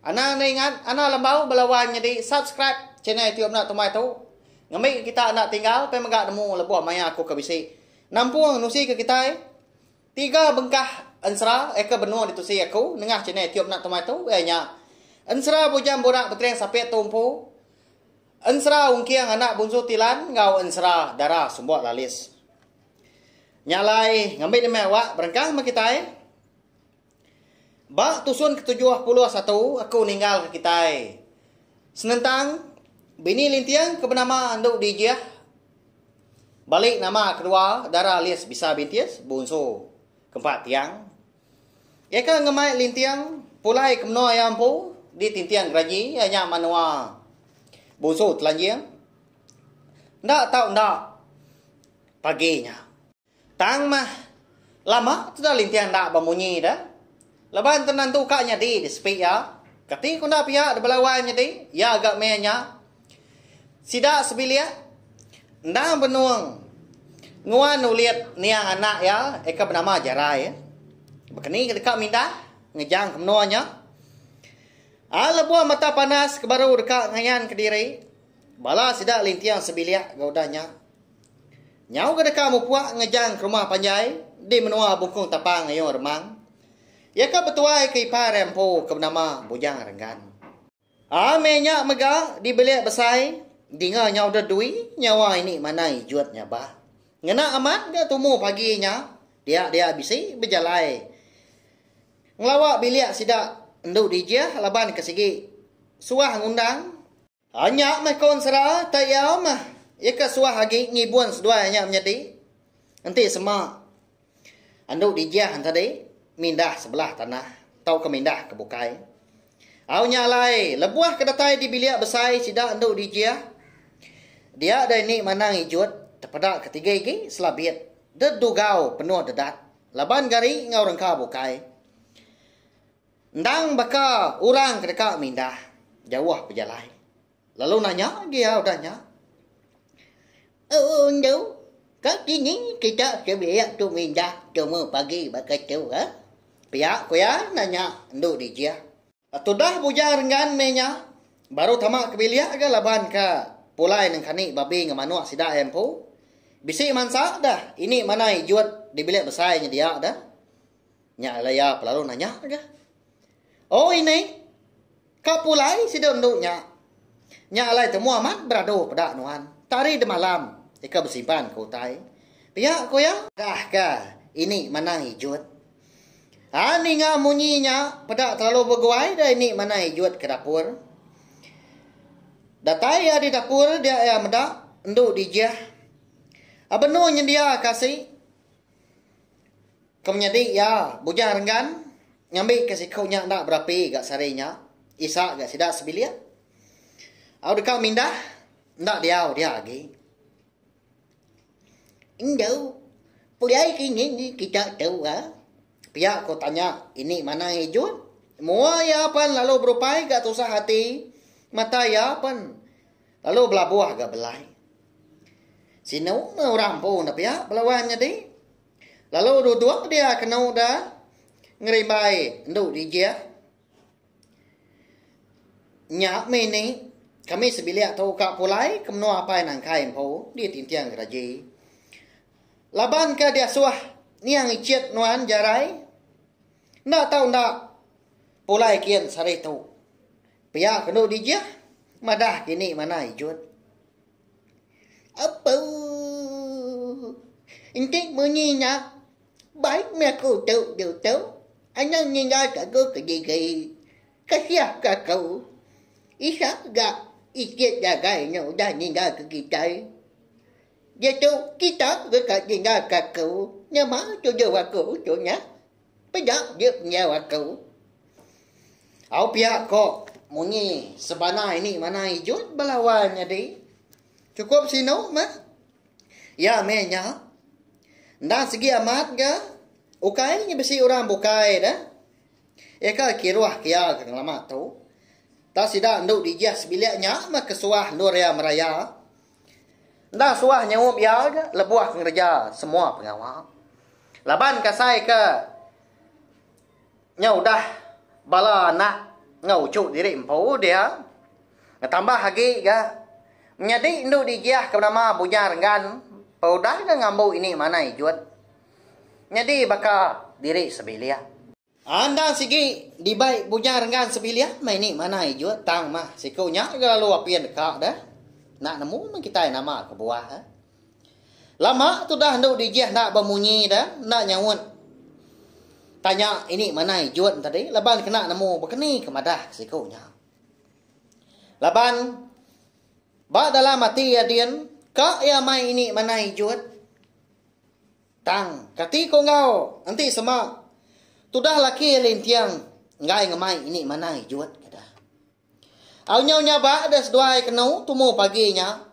Anang enda ingat, anang lembau bela wan nyedi subscribe channel youtube enda tumai tu. Ngembi ke kita enda tinggal pi mega nemu lebuh maya aku ke bisi. Nampung nusi ke kitai. Tiga bengkah ensera eka benung ditusi aku nengah channel youtube enda tumai tu iya nya. Ensera bujang burak betering sapit tu empu. Ensera ungking anak bunsu tilan enggau ensera dara sumbok lalis. Nya alai ngembi demi awak berengkah meh kitai. Ba tusun ketujuh puluh satu aku ninggalka kitai. Senentang, bini Linting ke benama Endu Dijih bali nama kedua dara Lis Bisa Bintis, Bunsu, ke empat Tiang. Iya ke ngemai Linting pulai ke menua iya empu di Tinting Geraji iya nya menua Bunsu Telanjing. Enda tau enda pagi nya. Tang mah, lama teda Lintian enda bemunyi da. Laban tenang tu ka nyadi di sepi iya. Kati ku enda pia dibela wai nyadi iya ga meh nya. Sida sebilik endang benung nguan ulit niang anak iya eka benama Jarai. Bekeni ke deka mindah ngejang ke menua nya. Ai lebuh mata panas ke baru deka ngayan kediri bala sida Lintian sebilik ga udah nya. Nyau ke deka mupuak ngejang ke rumah panjai di menua Bungkung Tapang Ayong Remang, iya ke betuai ke ipar iya empu ke benama Bujang Renggan. Ame nya mega di bilik besai dinga nyau deh dui nyawa ini manai jut nya bah. Ngena amat ga tumu pagi nya dia-dia bisi bejalai ngelawa bilik sida endu dijih laban ke sigi suah ngundang. Tanya meh Kon Sera, Tei iya meh. Iya ke suah agi ngibun seduai nya menyadi. Enti sema andu dijang tadi mindah sebelah tanah tauka mindah ke bukai. Au nya alai, lebuh ke datai di bilik besai sida andu dijang, dia dai ni manang ijut tepeda ke tiga igi selabit dedugau penuh dedat laban gari enggau rengka bukai. Endang baka orang ke deka mindah jauh bejalai lalu nanya dia udah nya, Ooh endu, ka kini kita sebilik tu mindah tumu pagi baka tu ga? pia ku iya nanya endu Dijih. Tudah Bujang Renggan meh nya baru tama ke bilik ga laban ka pulai nengkani babi enggau manuk sida iya empu. Bisi mansa dah ini manai ejut di bilik besai nya dia dah. Nya alai iya lalu nanya aja. Oh ini, ka pulai sida endu nya. Nya alai temu amat beradu peda nuan. Tari demalam ika besimpan ke utai. Pia ku iya. Dah ka ini manang ijut. Ha ninga munyi nya peda telalu beguai dah ini manang ijut ke dapur. Datai iya di dapur dia iya meda endu dijih. Abenu nyendia ka asi. Kemenyadi iya, Bujang Renggan ngambika siku nya enda berapi ga sehari nya, isa ga sida sebilik. Au deka mindah, enda diau dia agi. Enda, pulai ke ini ni kita tu ga? Pia ko tanya ini Manang Ijun. Mua iya pen lalu berupai ga tusah ati. Mata iya pen lalu belabuh ga belai. Sinu meh orang empu enda pia belawan nyadi. Lalu duduk dia kenu da ngeribai endu dijih. Nya mih ni, kami sebilik tu ka pulai ke menua apai nangkai empu di Tinting Geraji. Laban ke diasuh niang icit nuan jarai, enda tau enda pulai kin sehari tu. Pia ke endu dijih, madah dini manah ijut. Apuuh. Enti munyi nya, baik meh aku tu diu tu. Anang ninggal ke aku ke diri. Kasiah ke aku. Isa ga isit jagai nya udah ninggal ke kitai. Diatu kita deka ninggal ke aku. Nyema tuju aku tu nya. Peda dia pendiau aku. Au pia ko munyi sebana ini mana ijut belawan nyadi. Cukup sinu meh. Ya meh nya. Enda segi amat ga ukai nya bisi orang bukai da. Ya ka kiruh kia ga ngelama tu. Ta sida endu dijih sebilik nya meh kesuah endur iya meraya. Enda suah nyaup iya aja lebuh ngereja semua pengawa. Laban kasai ke nya udah bala anak enggau uchu diri empu dia ngetambah agi ga menyadi endu digiah ke nama Bujang Renggan pa udah ga ngambu ini manai jut nyadi baka diri sebilik. Andang sigi dibai bujang renggan sebilik meh ini manah ijut tang mah siku nya ga lalu apin deka deh enda nemu meh kitai nama kebuah eh. Lama tudah endu dijih enda bemunyi deh enda nyaut tanya ini manah ijut tadi laban kena nemu bekeni ke madah ke siku nya. Laban ba dalam ati iya din ka iya mai ini manah ijut. Tang, kati ko enggau, enti sema tudah laki iya linting enggai ngemai ini manai jut ka dah. Au nyau nyabak deh seduai kenu tumu pagi nya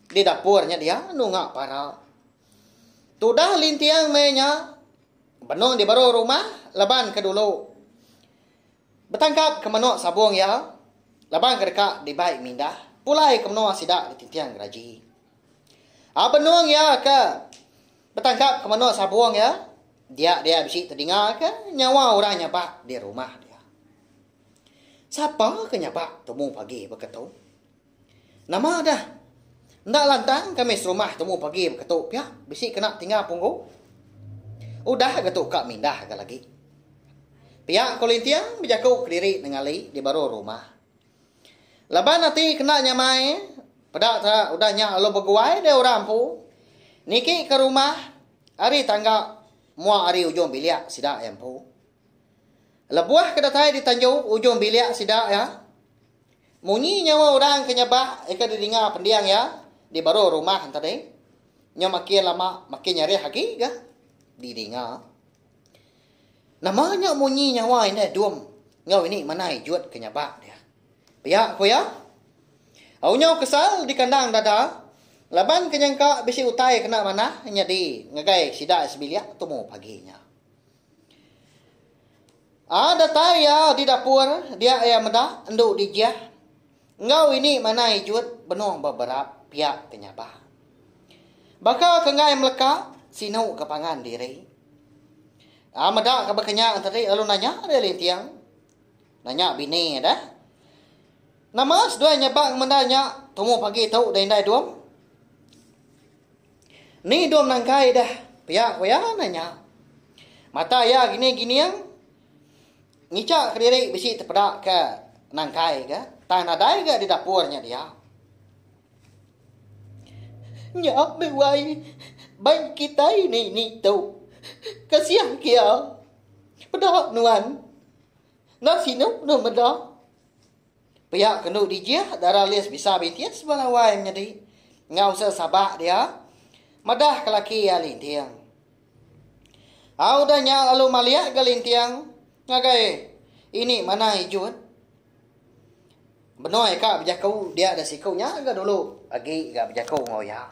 di dapur nya dia nunga para. Tudah linting meh nya benung di baru rumah laban ke dulu betangkap ke menu sabung iya laban ke deka dibai mindah pulai ke menua sida ditinting geraji. A benung iya ke betangkap ke menua Sabong iya, dia dia bisi tedinga ke nyawa orang nyabak di rumah dia. Sapa ke nyabak temu pagi beketu? Nama dah? Enda lantang kami serumah temu pagi beketu pia bisi kena tingga punggu. Udah ga tu ka mindah ga lagi. Pia ko Linting bejaku kediri nengali di baru rumah. Laban ati kena nyamai, peda ka udah nya lalu beguai deh orang empu niki ke rumah ari tangga mua ari ujung bilik sida iya empu. Lebuh ke datai ditanju ujung bilik sida iya, munyi nyawa orang ke nyabak ika didinga pending iya di baruh rumah enti tadi. Nyau makin lama makin nyarih agi ga didinga. Nama nya munyi nyawa indah dum enggau ini manai jut ke nyabak dia. Pia ku iya, Au nyau kesal dikandang dada laban ke nyangka bisi utai kena manah nyadi ngagai sida sebilik tumu pagi nya. Aa datai iya di dapur dia iya meda endu dijih. enggau ini manah ijut benung ba berap pia ke nyabah. Baka ke enggai meleka sinu ke pangan diri. A meda ke bekenya enteri lalu nanya dia linting. Nanya bini deh. Nama seduai nyabang menda nya tumu pagi tu da indai dum? Ni dum nangkai deh? Pia ku iya nanya. Mata iya gini gining. Ngicha kediri bisi tepeda ke nangkai ga tang nadai ga di dapur nya dia. Nya meh wai bank kitai nini tu. Kasiah kia. Peda nuan. Enda sinu deh meda. Pia kendu dijih dara Liz bisa bitis ba lawai menyadi enggau usa sabak dia madah ke laki iya linting. Au udah nya lalu maliak ga linting ngagai ini manah ijun. Benoi ka bejaku dia da siku nya ga dulu agi ga bejaku enggau iya.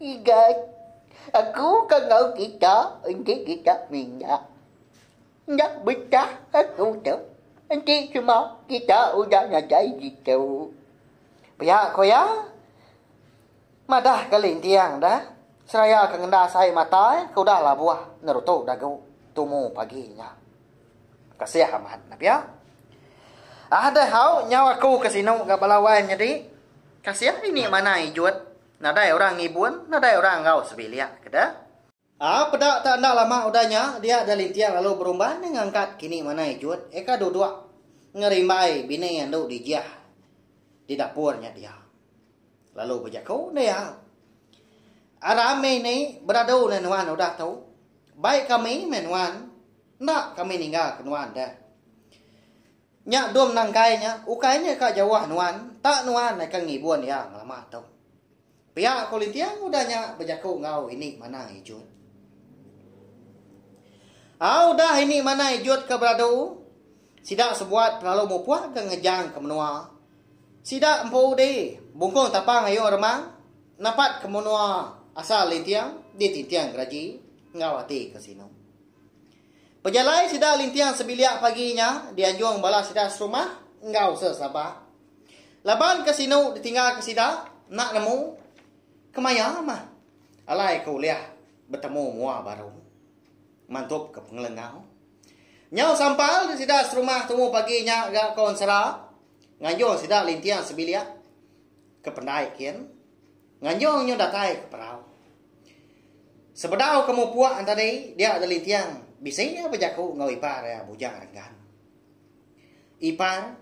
Igai aku ka enggau kita enti kita minyak enda betah aku tu enti cuma kita udah nadai ditu. Pia ku iya. Madah ke linting da, seraya ke ngendas ai mata ai ke udah labuh ngerutu dagu tumu pagi nya. Kasih amat nah pia. Ah deh hau nyau aku ke sinu ga bala wai nyadi. Kasih ini manah ijut, nadai orang ngibun, nadai orang enggau sebilik ke deh. Aa peda tak enda lama udah nya dia da Linting lalu berumban nya ngangkat kini manah ijut eka duduk ngerimbai bini andu dijih di dapur nya dia lalu bejaku enda iya a rami ni beradu neh nuan udah tu bai kami meh nuan enda kami ninggal ke nuan deh. Nya Dom Nangkai nya ukai nya ka jauh nuan tak nuan akan ngibun iya ngelama tu. Pia ko Linting udah nya bejaku enggau Ini Manah Ijut. Au udah Ini Manah Ijut ke beradu, sida sebuat pelalu mupuk ke ngejang ke menua. Sida empu udi bungkung tapang ayung remang napat ke menua asal Linting ditinting geraji enggau ati ke sinu. Pejalai sida linting sebilik pagi nya dianjung bala sida serumah enggau sesabak. Laban ke sinu ditinggalka sida enda nemu kemaya mah alai ke ulih betemu mua baru mantuka pengelengau. Nyau sampal sida serumah tumu pagi nya ga konsera nganjung sida linting sebilik ke pendai kin nganjung nyu datai ke perau. Sebedau ke mupuk enti tadi dia Deli Tiang bisi iya bejaku enggau ipar iya Bujang Renggan. Ipar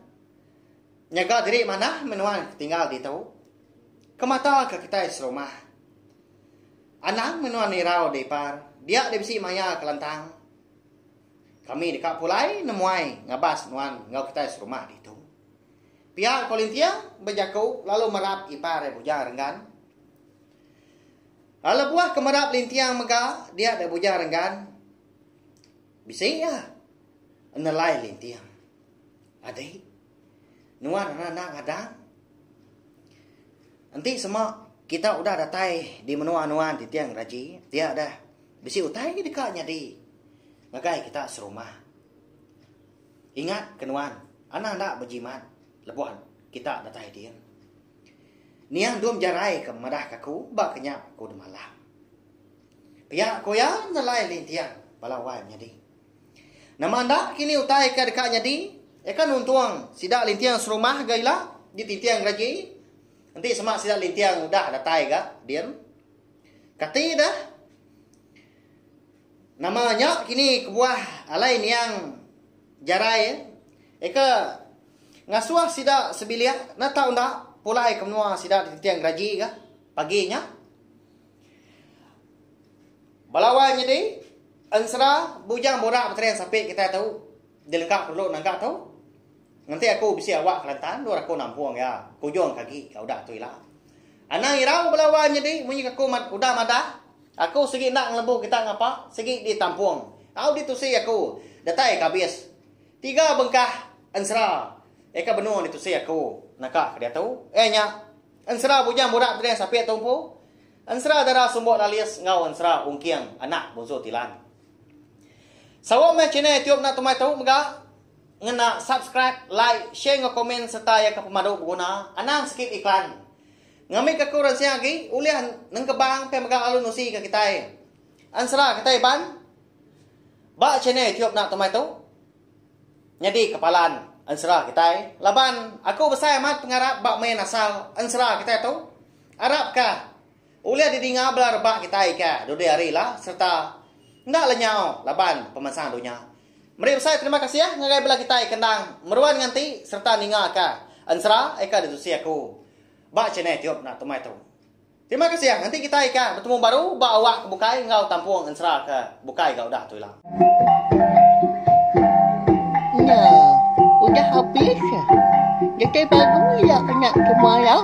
nyaga diri manah menuan ke tinggal ditu. Kemata ke kitai serumah. Anang menuan nirau di ipar, dia di bisi maya ke lantang. Kami deka pulai nemuai ngabas nuan enggau kitai serumah ditu. Pia ko Lintiang bejaku lalu merap ipar iya Bujang Renggan. Ai lebuh ke meda belinting mega dia dek bujang renggan bisi iya nelai linting adi nuan enda enda ngadang enti sema kita udah datai di menua nuan ti tiang raji dia deh bisi utai ke deka nyadi ngagai kita serumah ingat ke nuan enda enda bejimat lebuh kita datai dia. Niang Dum Jarai ke madah ka aku ba kenyap aku de malam. Pia ku iya nelai linting bala wai menyadi. Nama enda kini utai ke deka nyadi iya ke nuntung sida linting serumah ga ila di tinting geraji enti sema sida linting udah datai ga din. Kati deh. Nama nya kini kebuah alai niang Jarai eka ngasuh sida sebilik ne tau enda pulai ke menua sida ditinting geraji ga pagi nya. Bala wai nyadi ensera bujang borak betering sapi kitai tu. Dilegak perlu naga tu. Ngenti aku bisi awak Kelantan endur aku nampung iya kujung ke agi ka udah tu ila. Anang irau bala wan nyadi munyi ke aku udah madah aku sigi enda ngelembu kita ngapa sigi ditampung au ditusi aku datai ke abis tiga bengkah ensera iya ke benung ditusi aku naka ke diatu iya nya ensera bujang burak beding sapit tu empu. Ensera Dara Sumbok Lalis enggau Ensera Ungking Anak Bunsu Tilan. Sawa meh channel YouTube enda tumai tu mega. Ngena subscribe, like, share enggau komen sereta iya ke pemadu beguna, anang sikit iklan. Ngambika aku ransing agi ulih nengkebang pia mega lalu nusika kitai. Ensera kitai Iban ba channel YouTube enda tumai tu. Nyadi kepalan ensera kitai laban aku besai amat pengarap ba main asal ensera kitai tu. Arap ka ulih didinga bala rebak kitai ka dudi hari ila sereta enda lenyau laban pemansang dunya. Meri besai terima kasih ngagai bala kitai ke endang meruan nganti sereta ninga ka ensera eka ditusi aku ba channel YouTube enda tumai tu. Terima kasih ah, nanti kitai ka betemu baru ba awak ke bukai enggau kampung ensera ke bukai ga udah tu ila. Nya, udah habis ah. Datai baru ila anak ke maya.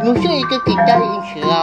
Nusui ke kitai ensera.